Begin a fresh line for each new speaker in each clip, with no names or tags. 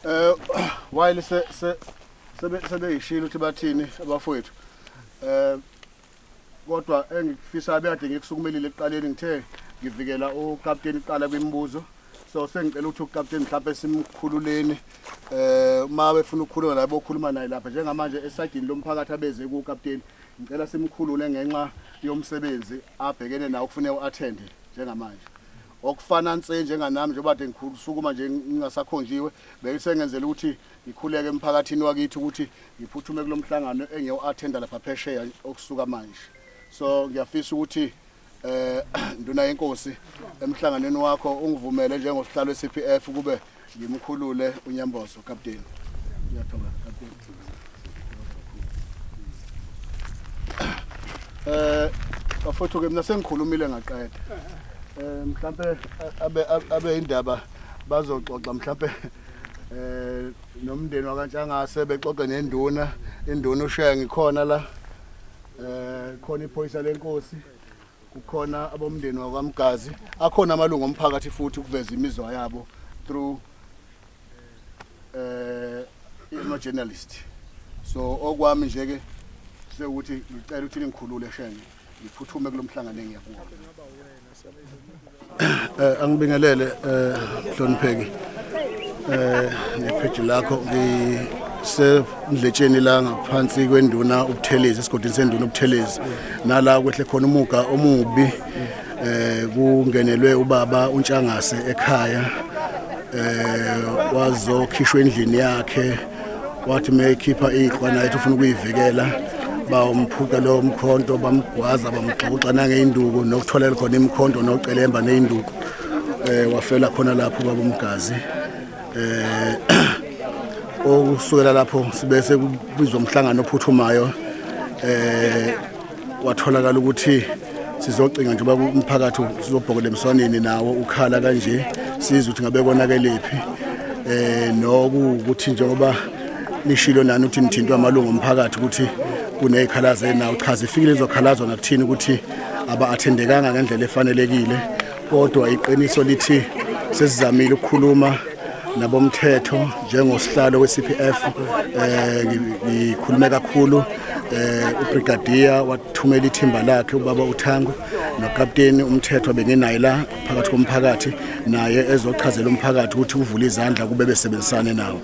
Eh while se se sebeyishilo ukuthi bathini abafowethu eh kodwa engifisa abeyade ngikusukumelile ekuqaleni ngithe ngivikela ukapteni kuqala kwimibuzo so sengicela ukuthi ukapteni mhlawumbe simkhululeni eh uma befuna ukukhuluma la bokhuluma naye lapha njengamanje esagini lomphakathi abeze ku captain ngicela simkhulule ngenxa yomsebenzi abhekene nawo kufanele uattend njengamanje okufana nse njenganami njengoba de ngikhusukuma nje ngingasakhonjiwe beyisengenzela ukuthi ngikhuleke emphakathini wakithi ukuthi ngiphuthume kulomhlangano engiyoattenda lapha phesheya okusuka manje so ngiyafisa ukuthi eh nduna yenkosi emhlanganweni wakho ungivumele njengosihlalo weCPF kube ngimkhulule unyambozo captain ngiyathokoza captain eh bafuthu ke mina sengikhulumile ngaqeda eh mhlambe abe abe indaba bazoxoxa mhlambe eh nomndeni wakantshangase bexoxe nenduna induna ushiya ngikhona la eh khona iphoyisa lenkosi kukhona abomndeni wakwaMgazi akhona amalungu omphakathi futhi ukuveza imizwa yabo through eh ino journalist so okwami nje ke sekuthi ngicela ukuthi ningikhulule shenge ngiphuthume kulomhlangano engiyakuwo eh angibingelele eh hlonipheki eh nepheji lakho ngisendletsheni la ngaphansi kwenduna ubuthelezi esigodini senduna ubuthelezi nala kwehle khona umuga omubi eh kungenelwe ubaba untshangase ekhaya eh wazokhishwa endlini yakhe wathi uma ekhipha iqhwa naye ethi ufuna ukuyivikela bawumphuca lowo mkhonto bamgwaza bamgxoxa nangey'nduku nokutholela khona imkhonto nocelemba ney'nduku um eh, wafela khona lapho baba umgazi um okusukela lapho sibe sekubizwa umhlangano ophuthumayo um kwatholakala ukuthi sizocinga njengoba umphakathi sizobhokela emswaneni nawo ukhala kanje sizwe ukuthi ngabe konakelephi eh nokuthi njengoba nishilo nani ukuthi nithintwa amalungu omphakathi ukuthi kunezikhalazo nawo chaza ifikile izokhalazo nakuthini ukuthi aba-athendekanga ngendlela efanelekile kodwa iqiniso lithi sesizamile ukukhuluma nabomthetho njengosihlalo we-CPF eh ngikhulume kakhulu eh ubrigadier wathumela ithimba lakhe ubaba uThango nokapteni umthetho bengenaye la phakathi komphakathi naye ezochazela umphakathi ukuthi uvule izandla kube besebenzisane nawo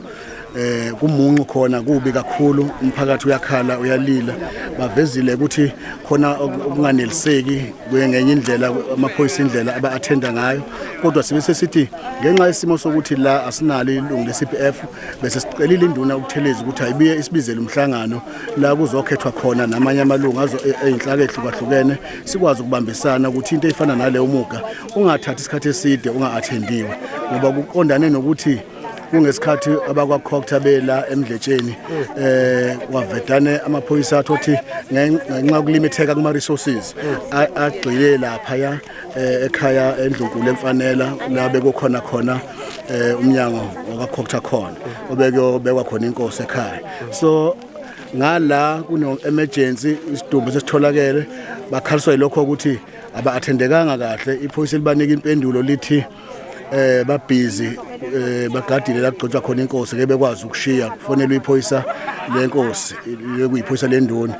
eh kumuncu khona kubi kakhulu umphakathi uyakhala uyalila bavezile ukuthi khona okunganeliseki ngenye indlela amaphoyisa indlela aba-athenda ngayo kodwa sibe sesithi ngenxa yesimo sokuthi la asinalo ilungu le-cpf bese sicelile induna ukutheleza ukuthi ayibuye isibizele umhlangano la kuzokhethwa khona namanye amalungu e-, eyinhlaka ehlukahlukene sikwazi ukubambisana ukuthi into eyifana naleyo muga ungathathi isikhathi eside unga-athendiwe ngoba kuqondane nokuthi kungesikhathi abakwakhokhtha bela emdletsheni eh wavedane amaphoyisa athi othi ngenxa yokulimitheka kuma resources agxile lapha ya eh, ekhaya endlunkulu emfanela labe kukhona khona eh, umnyango wakwakhokhtha khona obekuyobekwa khona inkosi ekhaya so ngala kuno emergency isidumbu sesitholakele bakhaliswa lokho ukuthi aba athendekanga kahle iphoyisa libanika impendulo lithi eh babhizi eh bagadile la kugcotshwa khona inkosi ke bekwazi ukushiya kufonelwa iphoyisa lenkosi lekuyiphoyisa lendoni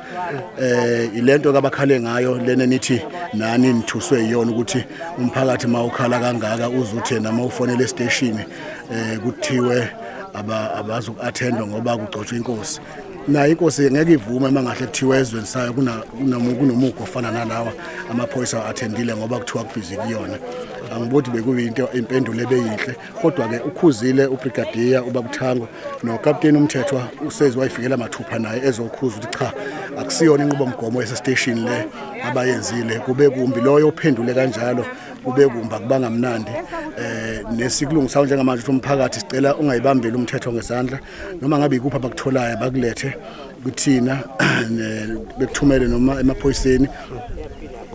eh ilento kabakhale ngayo lena nithi nani nithuswe iyona ukuthi umphakathi mawukhala kangaka uzuthe nama ufonele station eh kuthiwe abazi uku-attendwa ngoba kugcotshwa inkosi naye inkosi ngeke ivume uma ngahle kuthiwa ezweni sayo kunomugo ofana nalawa amaphoyisa athendile ngoba kuthiwa kubhizi kuyona angibodi bekuyinto impendulo ebeyinhle kodwa-ke ukhuzile ubrigadiya ubabuthango nokapteni umthethwa usezi wayifikela mathupha naye ezokhuza ukuthi cha akusiyona inqubomgomo yasesiteshini le abayenzile kube kumbi loyo ophendule kanjalo kube kumbi akubangamnandi um eh, nesikulungisayo njengamanje ukuthi umphakathi sicela ungayibambeli umthetho ngesandla noma ngabe ikuphi abakutholayo bakulethe kuthina bekuthumele noma emaphoyiseni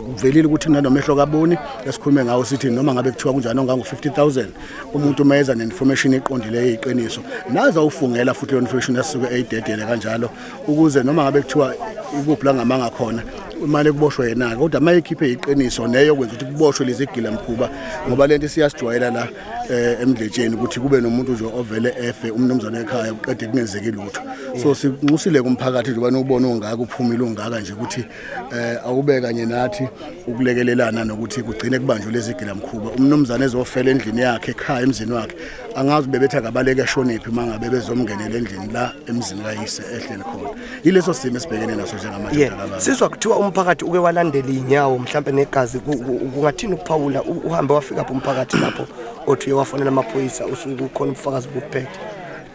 kuvelile ukuthi kunanomehlo kaboni esikhulume ngawo sithi noma ngabe kuthiwa kunjani ongangu-50000 umuntu uma eza ne-information eqondileyo eyiqiniso naze awufungela futhi leyo information asuke eyidedele kanjalo ukuze noma ngabe kuthiwa ikuphi la ngamanga khona imali kuboshwe yena-ke kodwa uma ekhiphe yiqiniso neyo kwenza ukuthi kuboshwe lezi gilamkhuba ngoba le nto siyasijwayela la eh emdletsheni ukuthi kube nomuntu nje ovele efe umnumzane ekhaya uqede kungenzeki lutho so sinxusile kumphakathi nje banobona ongaka uphumile ongaka nje ukuthi eh awube kanye nathi ukulekelelana nokuthi kugcine kubanjwe lezi gila mkhuba umnumzane ezofela endlini yakhe ekhaya emzini wakhe angazi bebetha kabaleke shoniphi mangabe bezomngenela endlini la emzini kayise ehleli khona ileso simo esibhekene naso njengamanje yeah. mntanami. sizwa kuthiwa
umphakathi uke walandela inyawo mhlambe negazi ku- ku- kungathini ukuphawula u- uhambe wafika phi umphakathi lapho othi uye wafonela amaphoyisa usuku khona ubufakazi bokuphethe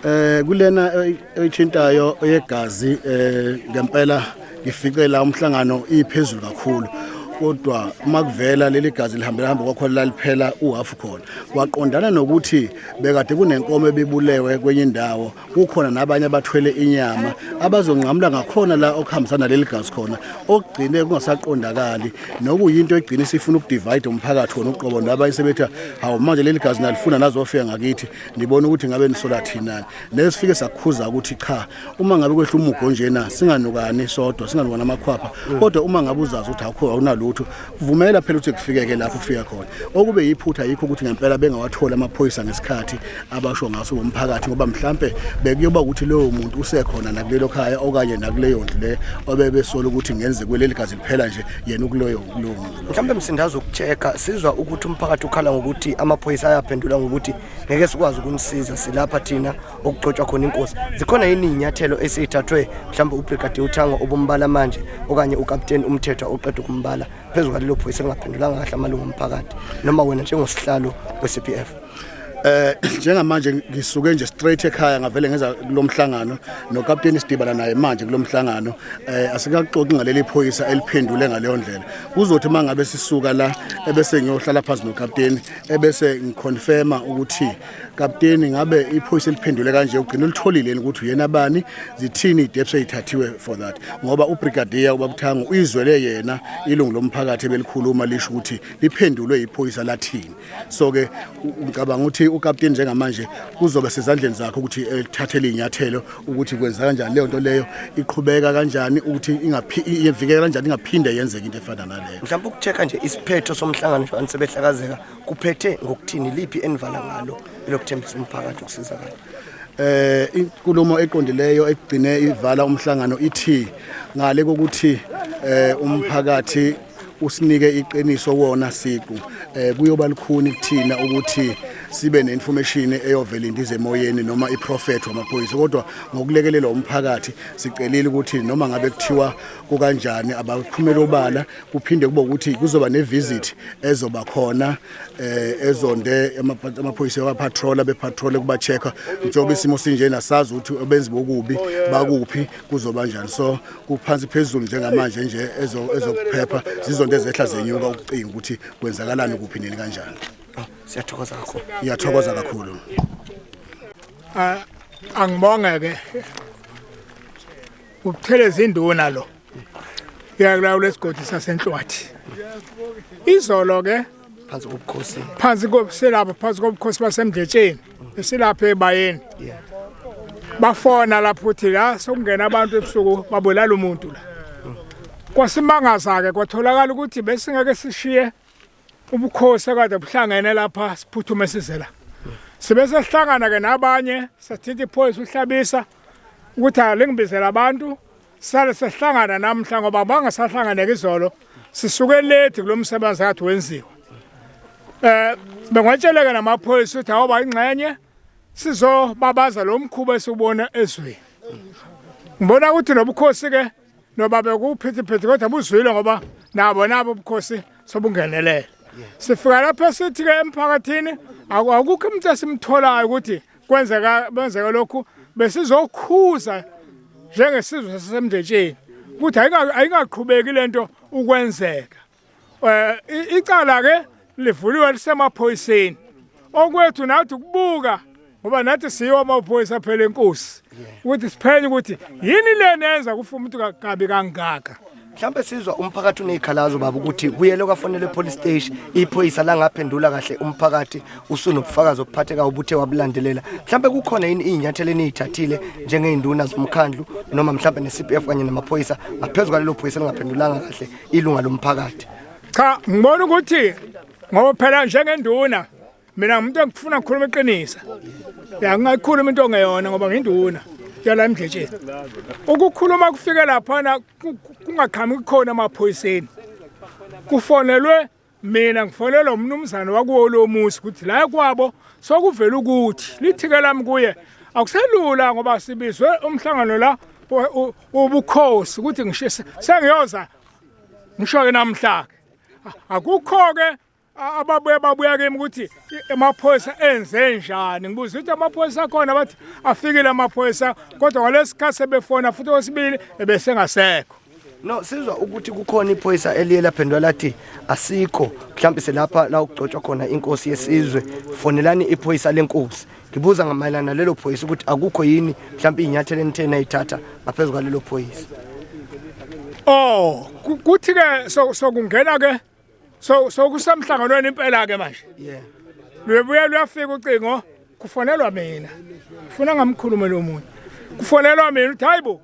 Eh kulena oy-
oyithintayo oyegazi eh ngempela ngifike la umhlangano iphezulu kakhulu kodwa uma kuvela leli gazi lihambela hamba kwakhona laliphela uhafu khona kwaqondana nokuthi bekade kunenkomo ebibulewe kwenye indawo kukhona nabanye abathwele inyama abazonqamula ngakhona la okuhambisana leli gazi khona okugcine kungasaqondakali nokuyinto egcine sifuna ukudivide umphakathi wona uqobo nabanye sebetha hawu manje leli gazi nalifuna nazofika ngakithi nibona ukuthi ngabe nisola thinani nesifike sakhuza ukuthi cha uma ngabe kwehla umugo njena singanukani sodwa singanukani amakhwapha kodwa uma ngabe uzazi ukuthi akho awunalutho vumela phela ukuthi kufikeke lapho kufika khona okube yiphutha yikho ukuthi ngempela bengawatholi amaphoyisa ngesikhathi abasho ngaso bomphakathi ngoba mhlambe bekuyoba ukuthi lowo muntu usekhona nakulelo khaya okanye nakuleyo ndlu le obebesola ukuthi ngenze kweleli gazi liphela nje yena ukuloyo kulowo muntu mhlambe msindazo
ukucheka sizwa ukuthi umphakathi ukhala ngokuthi amaphoyisa ayaphendula ngokuthi ngeke sikwazi ukumsiza silapha thina okugcotshwa khona inkosi zikhona yini iy'nyathelo eseyithathwe mhlawumbe ubrigade uthango obumbala manje okanye ukapteni umthethwa oqeda ukumbala phezu kwalelo phoyisa elingaphendulanga kahle amalungu omphakathi noma wena njengosihlalo we-cp f eh
njengamanje ngisuke nje straight ekhaya ngavele ngenza kulomhlangano nokapteni sidibana naye manje kulomhlangano eh asikaxoxi ngaleli phoyisa eliphendule ngaleyo ndlela kuzothi mangabe sisuka la ebese ngiyohlala phansi nokapteni ebese ngiconfirma ukuthi Kapteni ngabe iphoyisa eliphendule kanje ugcina ulitholile ukuthi uyena bani zithini idepse ithathiwe for that ngoba ubrigadier ubabuthango uyizwele yena ilungu lomphakathi ebelikhuluma lisho ukuthi liphendulwe iphoyisa lathini so ke ngicabanga ukuthi ukapteni njengamanje kuzobe sezandleni zakhe ukuthi elithathele inyathelo ukuthi kwenza kanjani leyo nto leyo iqhubeka kanjani ukuthi ingavikela kanjani ingaphinde yenzeke into efana naleyo mhlawumbe ukuchecka nje
isiphetho somhlangano nje sebehlakazeka kuphethe ngokuthini liphi enivala ngalo elokuthembisa umphakathi ukusizakala eh
inkulumo eqondileyo egcine ivala umhlangano ithi ngale kokuthi eh umphakathi usinike iqiniso wona siqu eh kuyoba likhuni kuthina ukuthi sibe neinformation eyovela indize emoyeni noma iprofet wamaphoyisa kodwa ngokulekelela umphakathi sicelile ukuthi noma ngabe kuthiwa kukanjani abaphumela obala kuphinde kube ukuthi kuzoba nevisit ezoba khona eh ezonde amaphoyisa wa patrol abe patrol kuba checker njengoba isimo sinjena sazi ukuthi obenzi bokubi bakuphi kuzoba kanjani so kuphansi phezulu njengamanje nje ezokuphepha zizonto ezehla zenyuka ukucinga ukuthi kwenzakalani kuphi nini kanjani oh, siyathokoza
kakhulu ngiyathokoza kakhulu
ah,
angibonge ke ukutheleza induna lo Yakulawo lesigodi sasenhlwathi. Izolo ke phansi kobukhosi. Phansi kobuselapha phansi kobukhosi basemdletsheni. Esilapha ebayeni. Yeah. Bafona lapho uthi la sokungena abantu ebusuku babulala umuntu la. Kwasimangaza ke kwatholakala ukuthi besingeke sishiye ubukhosi akade buhlangene lapha siphuthume size la. Sibese sihlangana ke nabanye sathinta iphoyisa uhlabisa ukuthi alingibizela abantu Sale sehlangana namhla ngoba bangasahlangane izolo sisuke late kulomsebenzi kathi wenziwa. Eh bengatsheleka namaphoyisa ukuthi awuba ingxenye sizobabaza lo mkhuba esubona ezweni ngibona ukuthi nobukhosi ke noba bekuphithiphithi kodwa buzwile ngoba nabo nabo ubukhosi sobungenelele sifika lapha sithi ke emphakathini akukho umuntu esimtholayo ukuthi kwenzeka benzeka lokhu besizokhuza njengesizwe sasemndletsheni ukuthi ayingaqhubeki lento ukwenzeka eh icala ke livuliwe lisemaphoyiseni okwethu nathi ukubuka ngoba nathi siyiwa amaphoyisa phela enkosi ukuthi siphenye ukuthi yini lena yenza kufa umuntu kabi kangaka mhlawumbe
sizwa umphakathi unezikhalazo baba ukuthi kuyele kwafonela epolice station iphoyisa langaphendula kahle umphakathi usunobufakazi obuphatheka ubuthe wabulandelela mhlawumbe kukhona yini izinyathelo enizithathile njengezinduna zomkhandlu noma mhlawumbe neCPF kanye namaphoyisa ngaphezulu kwalelo phoyisa lingaphendulanga kahle ilunga lomphakathi cha ngibona
ukuthi ngoba phela njengenduna mina ngumuntu engifuna ukukhuluma iqiniso ya ngingayikhuluma into ongeyona ngoba nginduna yala emdletsheni ukukhuluma kufike laphana kungaqhamuki kukhona emaphoyiseni kufonelwe mina ngifonelwa umnumzane wakuwo lo muzi ukuthi la kwabo sokuvela ukuthi lithike lami kuye akuselula ngoba sibizwe umhlangano la ubukhosi ukuthi ngishise sengiyoza ngisho ke namhla akukho ke ababuye babuya kimi ukuthi amaphoyisa enze njani ngibuza ukuthi amaphoyisa akhona bathi afikile amaphoyisa kodwa ngalesikhathi sebefona futhi okwesibili ebesengasekho no sizwa
ukuthi kukhona iphoyisa eliye laphendwa lathi asikho mhlawumbe selapha la ukugcotshwa khona inkosi yesizwe fonelani iphoyisa lenkosi ngibuza ngamayelana lelo phoyisa ukuthi akukho yini mhlawumbe inyathelo enithena ithatha ngaphezulu kwalelo phoyisa oh
kuthi ke sokungena ke so so kusemhlanganweni impela ke manje yeah luyebuya luyafika ucingo kufonelwa mina ufuna ngamkhulume lo muntu kufonelwa mina uthi hayibo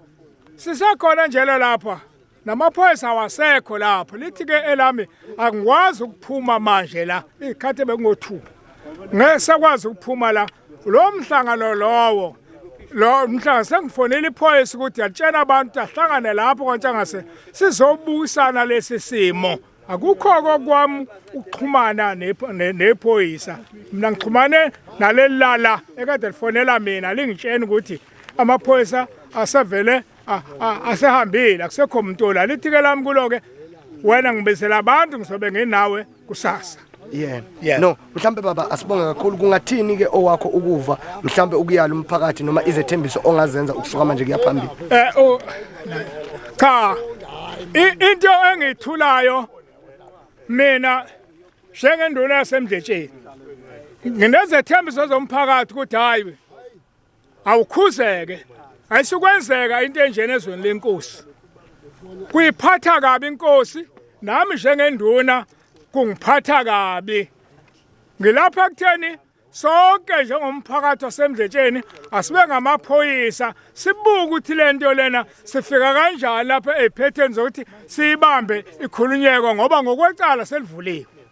sisekhona njalo lapha namaphoyisa wasekho lapho lithi ke elami angikwazi ukuphuma manje la ikhathi bekungo2 ngeke sakwazi ukuphuma la lo mhlangano lowo lo mhlanga sengifonela iphoyisa ukuthi atshena abantu ahlangane lapho kwantshangase sizobukisana lesi simo akukho kokwami ukuxhumana nephoyisa mina ngixhumane naleli lala ekade lifonela mina lingitsheni ukuthi amaphoyisa asevele asehambile akusekho muntu la lithike lami kulo-ke wena ngibizela abantu ngizobe nginawe kusasa yeah yeah. no
mhlambe baba asibonge kakhulu kungathini ke owakho ukuva mhlambe ukuyala umphakathi noma izethembiso ongazenza ukusuka manje kuyaphambili eh oh cha
into engithulayo mina njengenduna yasemdletsheni nginezethembiso zomphakathi ukuthi hayi awukhuzeke ayisukwenzeka into enjena ezweni lenkosi kuyiphatha kabi inkosi nami njengenduna kungiphatha kabi ngilapha ekutheni sonke njengomphakathi wasemdletsheni asibe ngamaphoyisa sibuke ukuthi le nto lena sifika kanjani lapha ey'phetheni zokuthi siyibambe ikhulunyeko ngoba ngokwecala
selivuliwe